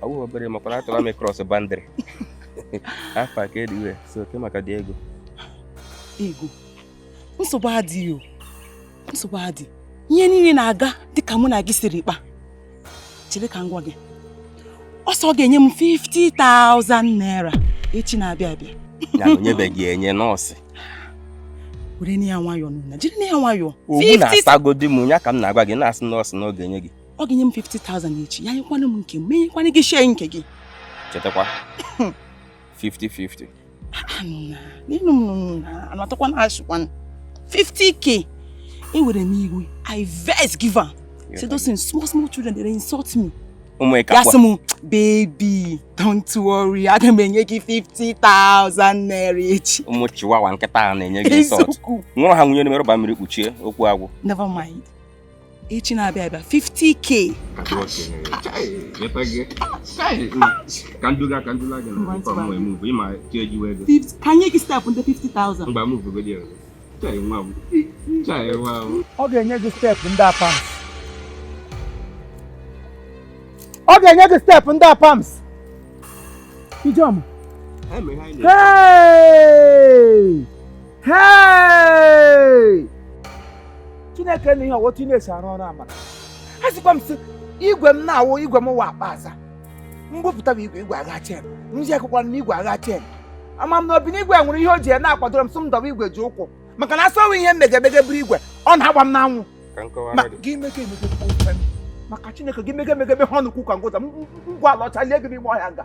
ọ bụghị obere makwara atụla m ịcross boundary afọ aka ediwe so okay maka the ego ego nsogbu adịghị o nsogbu adị ihe niile na-aga dịka mụ na gị siri kpa chere ka m gwa gị ọ sị ọ ga-enye m 50,000 naira echi na-abịa abịa ya na o nyebeghị enye na ọ sị werenụ ya nwayọọ nna jirinụ ya nwayọọ ọ bụ na-asagodi m ya ka m na-agwa gị na-asị na ọ sị na ọ ga-enye gị ọ ga-enye m 50,000 echi ya nyekwana m nke m menyekwana gị share nke gị chetakwa 50-50 n'elu m anatọkwa na asụkwanụ 50k ewere m iwe i vex give am say those things small small children dey insult me ya sị m baby don't worry aga m enye gị 50,000 naira echi ụmụ chiwawa nkịta a na-enye gị insult nwụrụ ha nwụnye n'ime rọba mmiri kpuchie okwu agwụ never mind echi na-abịa abịa 50k ka nye gị step ndị 50,000 ọ ga-enye gị step ndị apams ọ ga-enye gị step ndị apams ijeọma hei chineke na ihe ọ wụ otu na-esi arụ ọrụ amaka asịkwa m sị igwe m na-awụ igwe m wa akpa aza m bupụtaba igwe igwe agha chain nji akwụkwọ na igwe agha chain ama m n'obi na igwe nwere ihe o ji ya na-akwadoro m sị m dọba igwe ji ụkwụ maka na a sị ọ wụ ihe m mege emege buru igwe ọ na-agba m n'anwụ ka m kọwara Ma- gị gị mege emege kwuo ife m. maka chineke gị mege emege meghe ọnụ kwuo ụka ngwụta ngwa ala ọcha lie gị n'ime ọhịa nga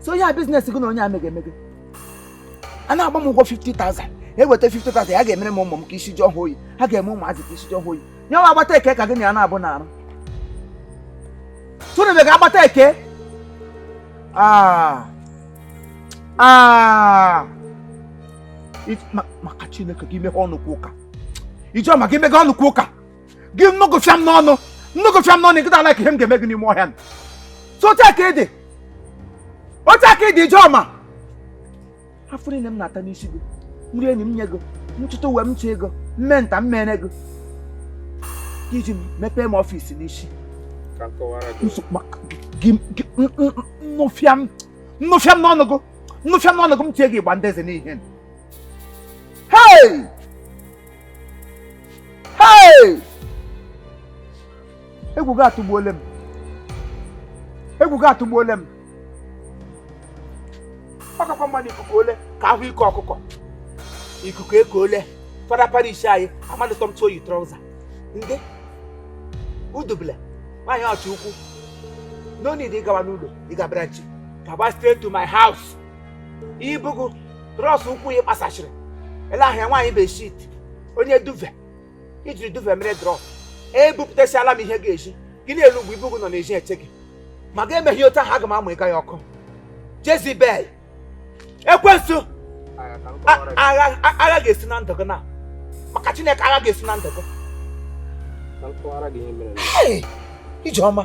so o nwere business gị na onye a mege emege a na-agba m ụgwọ 50,000 eweta 50,000 ya ga-emere m ụmụ m ka isi ji ọhụụ oyi ha ga-eme ụmụazị ka isi ji ọhụụ oyi nye nwa agbata ekee ka gị na ya na-abụ na arụ tụnụbe ga agbata ekee ah. Ah. maka chineke gị meghe ọnụ kwuo ụka Ijeọma gị meghe ọnụ kwuo ụka gị m nụ gị fịam n'ọnụ m nụ gị fịam n'ọnụ nkịta ala ka ihe m ga-eme gị n'ime ọhịa so otu a ka ị dị otu a ka ị dị Ijeọma afụfụ niile m na-ata n'isi gị m rie nri m nye gị m chụta uwe m chee ego m mee nta m mere gị i ji mepee m office n'isi m nụ fịam m nụ fịam n'ọnụ gị m nụ fịam n'ọnụ gị m tie gị ịgba ndị eze n'ihu hei egwu gị atụgbuole m egwu gị atụgbuole m ọ kakwa mma nụ ikuku ekuole ka a hụ ike ọkụkọ ikuku ekuole fada parish anyị amadị tọmtụ o yi trọza ndị udubele nwaanyị ọchị ukwu no need ịgawa n'ụlọ ị ga branch gaba straight to my house ibugo trọs ụkwụ ya kpasachiri ele ahịa nwaanyị bedsheet onye duvet i jiri duvet mere drọp ebupụtasịala m ihe ga-eji gị n'elu ugwu ibugo nọ n'ezi eche gị ma gị emeghị otu ahụ aga m amụ ịga ya ọkụ jezibel ekwensu agha ga-esu na ndụ gị na maka chineke agha ga-esu na ndụ gị ijeọma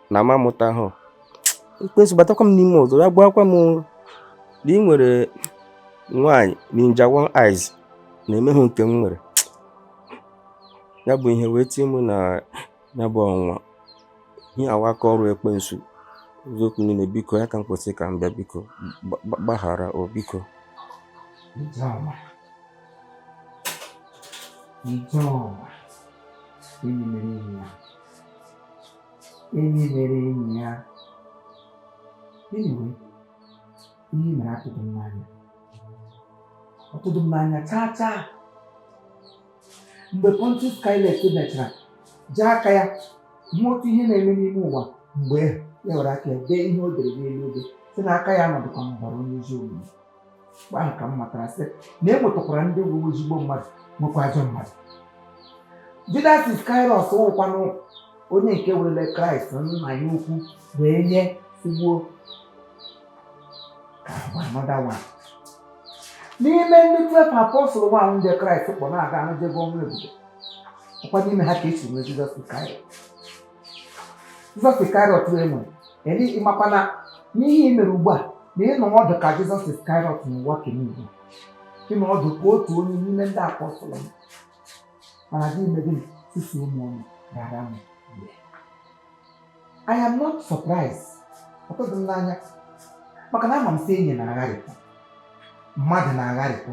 na m amụtahụ ekwensu batakwa m n'ime ọzọ ya gbaakwa m na ị nwere nwaanyị ninja one eyes na-emehụ nke m nwere ya bụ ihe wee tie m na ya bụ ọnwa ihe a wụ aka ọrụ ekwensu eziokwu niile biko ya ka m kwu sị ka m bịa biko gbaghara o biko Ijeoma Ijeoma enyi mere enyi ya enyi mere enyi ya anyway ihe i mere atụdụ m n'anya ọ tụdụ m n'anya chaa chaa mgbe Pontius Pilate mechara ji aka ya hụ otu ihe na-eme n'ime ụwa mgbe ya were aka ya dee ihe o dere n'elu obe sị na aka ya anọdụkwa n'ọbara onye ezi omume mgbe ahụ ka m matara sị na e nwetakwara ndị bụ ezigbo mmadụ nwekwa ajọ mmadụ Judas Iskarịọt wụkwanụ onye nke werele Kraịst nna ya ukwu wee nye sị gbuo ka another one n'ime ndị twelve apọstụl nwa ahụ ndị Kraịst kpọ na-aga ahụ jego ọrụ ebube ọ kwa n'ime ha ka e si nwee Jizọs Iskarịọt Jizọs Iskarịọt enwe eri ị makwa na n'ihe i mere ugbu a na ị nọdụ ka Jizọs Iskarịọt n'ụwa kemgbe ị nọdụ ka otu onye n'ime ndị apọstụl m mana gị mee gịnị susuo m ọnụ ghara m mgbe I am not surprised ọ tụdụ m n'anya maka na ama m sị enyi na-agharịpụ mmadụ na-agharịpụ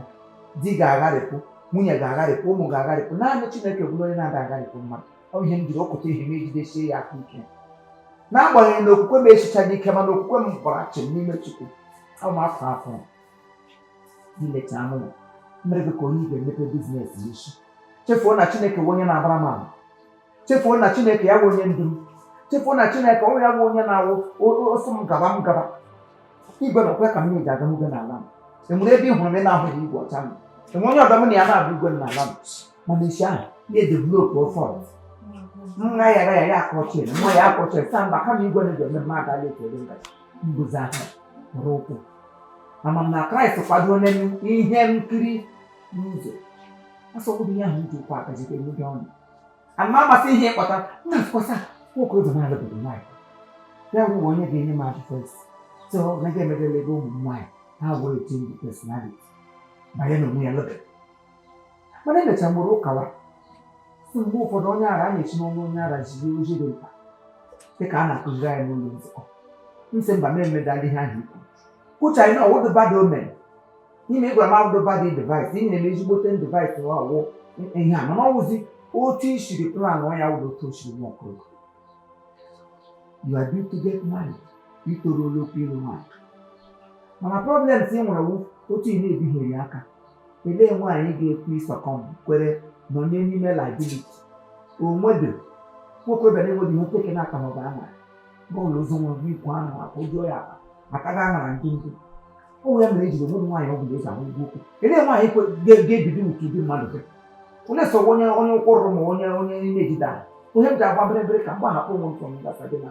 di ga-agharịpụ nwunye ga-agharịpụ ụmụ ga-agharịpụ naanị Chineke bụrụ onye na-ada agharịpụ mmadụ ọ ihe m jiri okụta ihe m ejidesie ya aka ike n'agbanyeghị na okwukwe m esichaghị ike mana okwukwe m gbara chịm n'ime chukwu ama afọ afọ n'ileta anụ ya mere gị ka onye ị ga-emepe biznes n'isi chefuo na chineke bụ onye na-abara m ama chefuo na chineke ya bụ onye ndu m chefuo na chineke ọ ya bụ onye na-awụ ọsọ m gaba m gaba igwe na okwe ka m na-eji aga n'ugwe n'ala m o nwere ebe ị hụrụ m ị na-ahụghị igwe ọcha m o nwe onye ọdọ m na ya na-abụ igwe n'ala m mana isi ahụ ya edevelop fault nwa ya ya ya akọchie nwa ya akọchie sa mba kama igwe na ga-eme mma agaghị ekele ngaji mbuzi ahụ rụrụ ụkwụ ama m na kraịst kwado onye ihe nkiri n'ụzọ asọkwụdị ihe ahụ ji ụkwụ aka jide ndị ọnụ ama amasị ihe ịkpọta nna nkwasa nwoke odo na-alụbedo nwaanyị ya bụ onye ga-enye m advice so na ga-emebelebe ụmụ nwaanyị ha wee change personality banye n'onwe ya lụbedo mana emecha mụrụ ụkawa sị mgbe ụfọdụ onye ara a na-esi n'ọnụ onye ara jiri ozi dị mkpa dịka a na-akụziri anyị n'ụlọ nzukọ m sị mba m emedala ihe ahụ i kwu kwucha anyị na ọ wụdụ bad omen na ihe ị gwara m awụdụ bad advice i nyere m ezigbote advice na ọ wụ ihe a mana ọ wụzi otu i siri plan ọ ya wụrụ otu o siri nwa ọkụrụ you are due to get married i toruola ogo ịlụ nwaanyị mana problems ị nwere wụ otu ị na-ebighịrị aka Olee nwaanyị ga-ekwe ịsuccumb kwere nọnye n'ime liability o nwedo nwokorobịa na-enweghị ihe teke n'aka maọbụ ama bọọlụ ụzọ nwa bụ ikwu ahụ akwa ụjọ ya akpa maka ga aṅara ndị ndị ụmụ ya mere e jiri o nweghị nwaanyị ọ bụla eji ahụ ụgwọ okwu elee nwaanyị ga-ebido utu ụdị mmadụ gị onye sọ onye onye ụkwụrụ ma onye onye na-ejide ahụ onye m ji agba bịrịbịrị ka mgbe ahapụ ụmụ ntọ m gasa gị na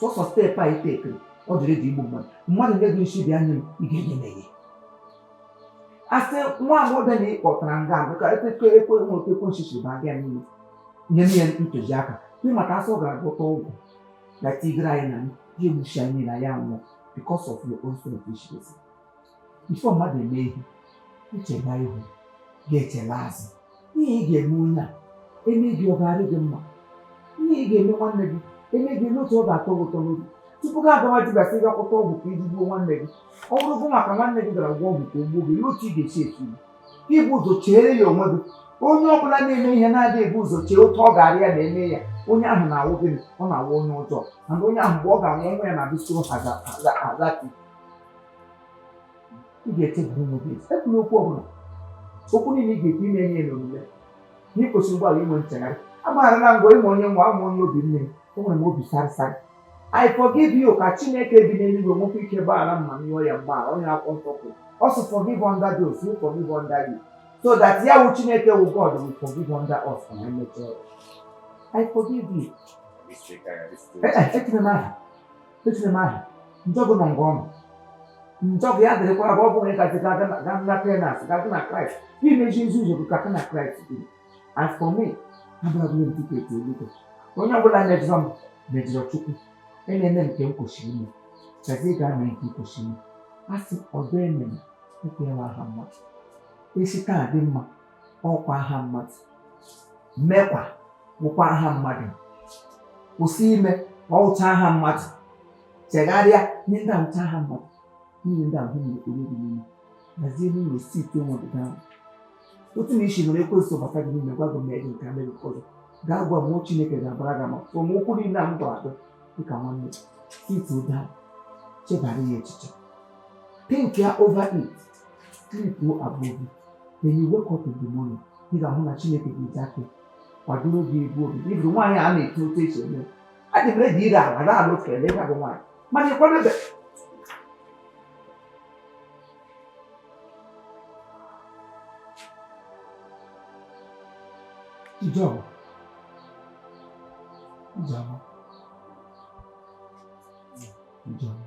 sọsọ step a ị tekiri ọ dịrị gị igbu mmadụ mmadụ nye gị nsi bịa nye m ị ga-enye m enye a sị nwa agbọghọbịa na ịkpọtara nga a ka ekwe ekwe nwe otu ekwe nchichi ba gị n'ihu nye m ya ntụziaka ị ma ka a sị ọ gara gwọta ọgwụ na tigere anyị na ya egbuchi anyị na ya nwụọ because of your own selfishness before mmadụ eme ihe i chela ihu gị echela azụ ihe ị ga-eme onye a eme gị ọ ga-adị gị mma ihe ị ga-eme nwanne gị eme gị n'otu ọ ga-atọ gị ụtọ n'obi tupu gị agawa dibịa sị gị agwọta ọgwụ ka i ji gbuo nwanne gị ọ bụrụ gị maka nwanne gị gara gwọ ọgwụ ka o gbuo gị n'otu ị ga-esi etu gị ibu ụzọ cheere ya onwe gị onye ọ bụla na-eme ihe na-adịghị ebu ụzọ chee otu ọ ga-arị ya na e mee ya onye ahụ na-awụ gịnị ọ na-awụ onye ọjọọ mana onye ahụ mgbe ọ ga-anwụ nwa ya na-abịsoro ha ga- ha ga- ha ga- ị ga-echeburu m obi ekwula okwu ọbụla okwu niile ị ga-ekwu ime ihe n'omume na ị kwesịrị ugbu a inwe nchegharị agbagharala m gị ịma onye nwa ama onye obi nne m enwere m obi sarasara I forgive you ka Chineke bi n'eluigwe nwekwa ike gbaghara m ma m yọọ ya mgbaghara onye akwụkwọ nsọ kwuru ọ sị forgive unto those who forgive unto you so that ya wụ Chineke wụ God will forgive unto us ma anyị mechaa ya. I forgive you. Echena m aha echiri m ahụ njọ gị nọ ngwa ọnụ njọ gị ya dịrịkwara bụ ọ bụghị gazi gaa na penance gazi na kraịst ka i mezie ụzọ ka gị na kraịst dị as for me abụrụbụla m tiketi eluigwe onye ọbụla mejọrọ m mejọrọ Chukwu emeela m nke m kwesịrị ime gazi gaa mee nke kwesịrị ime a sị ọdọ emene ekwela aha mmadụ e si taa dị mma ọ wụkwa aha mmadụ mekwa wụkwa aha mmadụ kwụsị ime ọ wụcha aha mmadụ chegharịa ihe ndị a wụcha aha mmadụ niile ndị ahụ na-ekporo gị n'ime hazie ebe ụlọ site nwa gị ahụ otu na isi nọrọ ekwensu bata gị n'ime gwa gị mee gị nke mere ụfọdụ gaa gwa mmụọ chineke ga-agbara gị ama from okwu niile a m gwara gị dịka nwanne site ugbu a chebara ya echiche think ya over it sleep above it when you wake up in the morning ị ga-ahụ na chineke ga-eji aka kwadoro gị egwu obi iburu nwaanyị a na-eto otu esi eme adị m ready ire ala na ala otu ele bụ nwaanyị mana ịkwadebe Ijeọma Ijeọma Ijeọma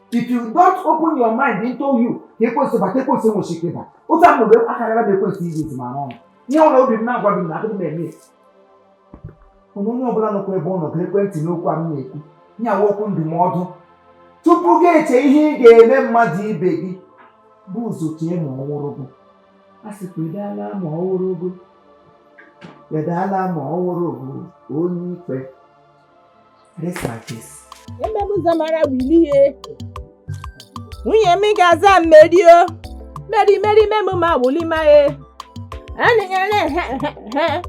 if you don't open your mind into you ka ekwensu bata ekwensu enweghị ike ịbata mgbe akarịla bụ ekwensu izi izi ma arụ ọrụ ihe ọbụla obi m na-agwa gị na adịghị m eme onye onye ọbụla nọkwa ebe ọ nọ gekwa ntị n'okwu a m na-ekwu na ya wụ okwu ndụmọdụ tupu gị eche ihe ị ga-eme mmadụ ibe gị bụ ụzọ chee ma ọ wụrụ gị a sịkwa edala ma ọ wụrụ gị edala ma ọ wụrụ gị onye ikpe e mee m zamara Willie nwunye m ga-aza Mary o Mary Mary memu ma wuli ma ye anịnyere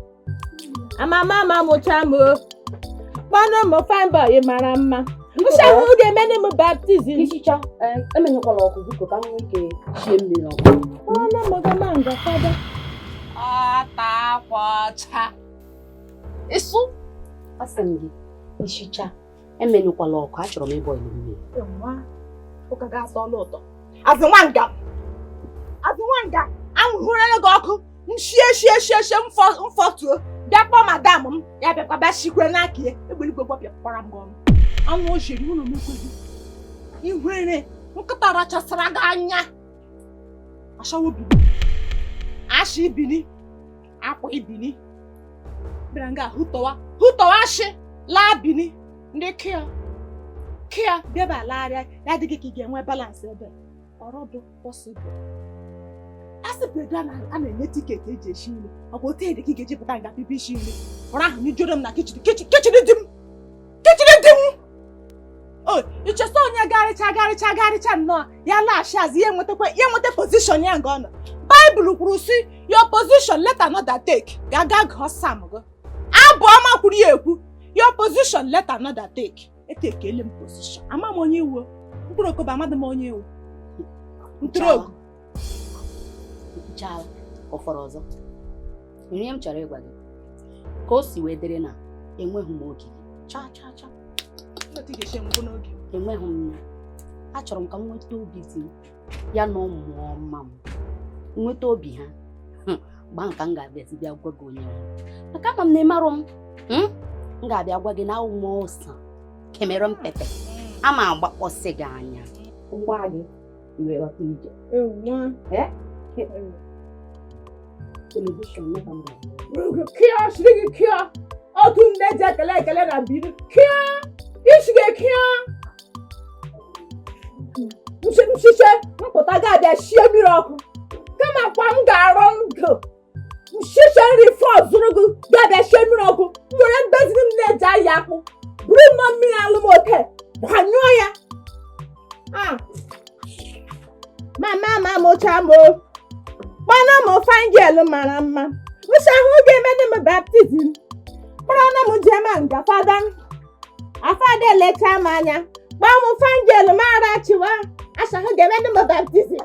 mama m mụcha m o kpọnụ m fine boy mara mma mụcha m ga-emene m baptism Ichicha, eh, emenyụkwala ọkụ biko ka m nwee ike shie mmiri ọkụ. kpọnụ m gama nga fada Ọta akwa ọcha. ịsụ asị m gị ichicha emenyụkwala ọkụ achọrọ m ịbọ ilu mmiri ụka ga-atọ ọla ụtọ azị nwa nga azị nwa nga anwụhụrụla gị ọkụ nshie shie shie shie mfọtuo bịa kpọọ madam m ya bịakwa bịa shikwe n'aka ya egbeligwe gbapịakwara m gị ọnụ anụ ojiri ụlọ n'ekweghị ihere nkịta rachasara gị anya ashawo bini ashi bini akwa ibini bịara nga hụtọwa hụtọwa shị laa bini ndị kịa kịa bịaba lagharịa ya adị gị ka ị ga-enwe balansị ebe ọrọdụ pọsịbụl a sị bụrụ a na-enye tiketi eji esi nri ọ bụ otu ị dị ka ị ga-eji pụta nga bibi isi nri ọrụ ahụ n'ijoro m na kichin di m kichin di m o i che si onye garịcha garịcha garịcha nnọọ ya laghachi azụ ya enwetakwa ya enweta pozishọn ya nga ọ nọ baịbụl kwuru si your position let another take gaa ga gụọ sam gị abụ ọma kwuru ya ekwu your position let another take etekele m pozishọn ama m onye ị wụ mkpụrụ okobo amadị m onye ị wụ ntụrụ ogu chaa ọ fọrọ ọzọ ihe m chọrọ ịgwa gị ka o si wee dịrị na enweghị m oge chaa chaa chaa enweghị m ya achọrọ m ka m nweta obi di m ya na ụmụ ọma m nweta obi ha mgbe ahụ ka m ga-abịazi bịa gwa gị onye maka ama m na ị marụ m hmm? m ga-abịa gwa gị na awụ m ose cameroon pepper ama agbakpọsị gị anya iwe ghọta ije telivishọn kịa shiri gị kịa otu ndị eji ekele ekele na biri kịa isi gị kịa nshiche mpụta ga-abịa shie mmiri ọkụ kama kwa m ga-arụ ndụ nshicha nri fọ zụrụ gị bịa bịa sie mmiri ọkụ nwere mbezi m na-eji ahịa akpụ buru mma mmiri alụmote gbanyụọ ya mama m amụcha m o kpọna m fine girl mara mma mụcha ahụ ga-emene m baptizim kpọrọna m jema nga fada fada elecha m anya kpọọ m fine girl mara chiwa achahụ ga-emene m baptizim